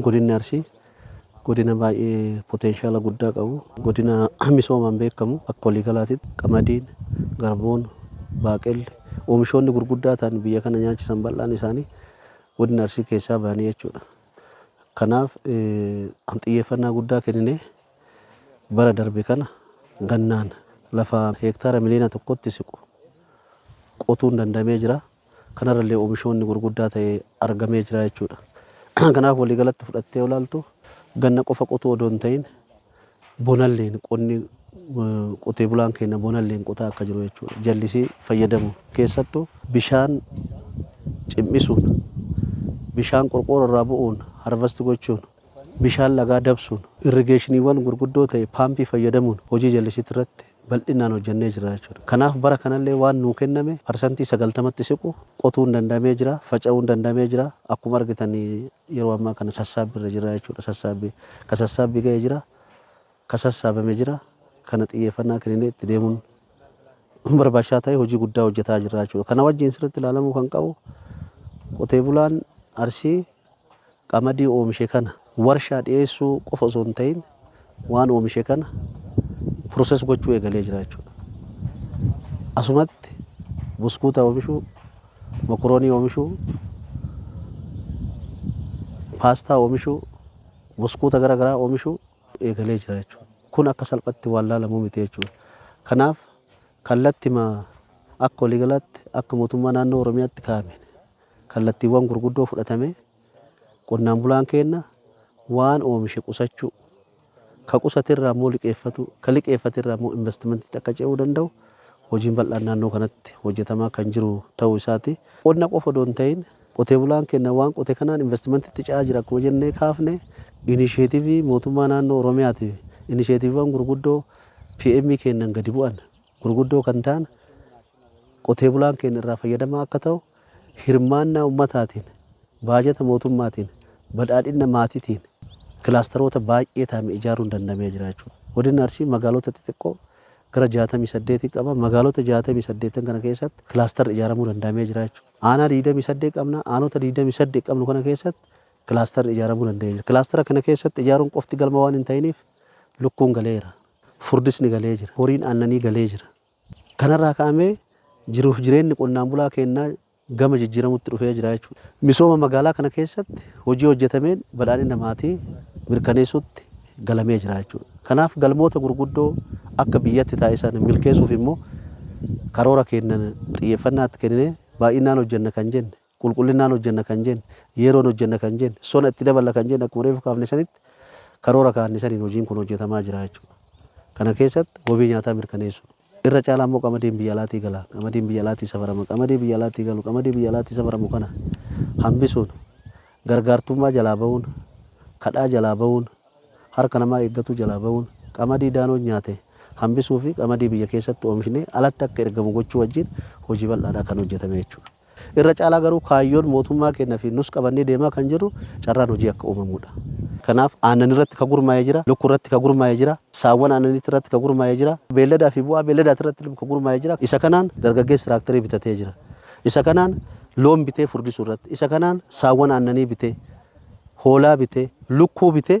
Godinni Arsii godina baay'ee potenshaala guddaa qabu, godina misoomaan beekamu akka waliigalaatitti qamadiin, garbuun, baaqelli, oomishoonni gurguddaa ta'an biyya kana nyaachisan bal'aan isaanii godina Arsii keessaa bahanii jechuudha. Kanaaf xiyyeeffannaa guddaa kenninee bara darbe kana gannaan lafa heektaara miliyoona tokkotti siqu qotuun danda'amee jira. kanarra illee omishoonni gurguddaa ta'e argamee jira jechuudha. Kanaaf waliigalatti fudhattee olaaltu ganna qofa qotuu odoo hin ta'in bonalleen qonni qotee bulaan keenya bonalleen qotaa akka jiru jechuudha. Jallisii fayyadamu keessattu bishaan cim'isuun bishaan qorqooroo irraa bu'uun harvasti gochuun bishaan lagaa dabsuun irrigeeshiniiwwan gurguddoo ta'e paampii fayyadamuun hojii jallisiitti irratti bal'inaan hojjennee jirra jechuudha. Kanaaf bara kanallee waan nuu kenname parsantii 90tti siqu qotuun danda'amee jira, faca'uun danda'amee jira. Akkuma argitan yeroo ammaa kana sassaabbii irra jirra jechuudha. Sassaabbii ka sassaabbii ga'e jira, ka sassaabame jira. Kana xiyyeeffannaa kenninee itti deemuun barbaachisaa ta'ee hojii guddaa hojjetaa jirra jechuudha. Kana wajjin sirriitti ilaalamuu kan qabu qotee bulaan Arsii qamadii oomishe kana warshaa dhiyeessuu qofa osoo hin ta'in waan oomishe kana process gochuu eegalee jira jechuudha. Asumatti buskuuta oomishuu, mokoroonii oomishuu, paastaa oomishuu, buskuuta gara garaa oomishuu eegalee jira jechuudha. Kun akka salphatti waan laalamu miti jechuudha. Kanaaf kallattima akka waliigalaatti akka mootummaa naannoo Oromiyaatti kaa'ameen Kallattiiwwan gurguddoo fudhatame qonnaan bulaan keenna waan oomishe qusachuu, ka qusate irraa immoo liqeeffatuu, ka liqeeffate irraa immoo investmentitti akka ce'uu danda'u hojiin bal'aan naannoo kanatti hojjetamaa kan jiru ta'uu isaati. Qonna qofa odoo hin ta'iin qotee bulaan keenna waan qote kanaan investmentitti ce'aa jira akkuma jennee kaafne inisheetivii mootummaa naannoo Oromiyaati fi inisheetiviiwwan gurguddoo PM keennan gadi bu'an gurguddoo kan ta'an qotee bulaan keenya irraa fayyadamaa akka ta'u hirmaannaa ummataatiin, baajata mootummaatiin, badhaadhinna maatiitiin kilaastaroota baay'ee taame ijaaruun danda'amee jira jechuudha. Godinni Arsii magaalota xixiqqoo gara 68 qaba. Magaalota 68n kana keessatti kilaastarri ijaaramuu danda'amee jira jechuudha. Aanaa 28 qabna. Aanota 28 qabnu kana keessatti kilaastarri ijaaramuu danda'ee jira. Kilaastara kana keessatti ijaaruun qofti galma waan hin ta'iniif lukkuun galeera. Furdisni galee jira. Horiin aannanii galee jira. Kanarraa ka'amee jiruuf jireenni qonnaan bulaa keennaa gama jijjiiramutti dhufee jira jechuudha. Misooma magaalaa kana keessatti hojii hojjetameen badhaadhina maatii mirkaneessuutti galamee jira jechuudha. Kanaaf galmoota gurguddoo akka biyyatti taa'e sana milkeessuuf immoo karoora keennan xiyyeeffannaa itti kenninee baay'inaan hojjenna kan jenne, qulqullinnaan hojjenna kan jenne, yeroon hojjenna kan jenne, sona itti daballa kan jenne akkuma reefu kaafne sanitti karoora kaa'anne saniin hojiin kun hojjetamaa jira jechuudha. Kana keessatti wabii nyaataa mirkaneessuu. Irra caalaa immoo qamadiin biyya alaatii gala, qamadiin biyya alaatii safarama, qamadii biyya alaatii galu, qamadii biyya alaatii safaramu kana hambisuun, gargaartummaa jalaa ba'uun, kadhaa jalaa ba'uun, harka namaa eeggatuu jalaa ba'uun, qamadii daanoon nyaate hambisuu fi qamadii biyya keessatti oomishnee alatti akka ergamu gochuu wajjin hojii bal'aadha kan hojjetame jechuudha. Irra caalaa garuu kaayyoon mootummaa keenna fi nus qabannee deemaa kan jirru carraan hojii akka uumamuu dha. Kanaaf aannan irratti ka gurmaa'e jira, lukku irratti ka gurmaa'e jira, saawwan aannaniitti irratti ka gurmaa'e jira, beelladaa fi bu'aa beelladaati irratti ka gurmaa'e jira. Isa kanaan dargaggeessi tiraakterii bitatee jira. Isa kanaan loon bitee furdisuu irratti, isa kanaan saawwan aannanii bitee, hoolaa bitee, lukkuu bitee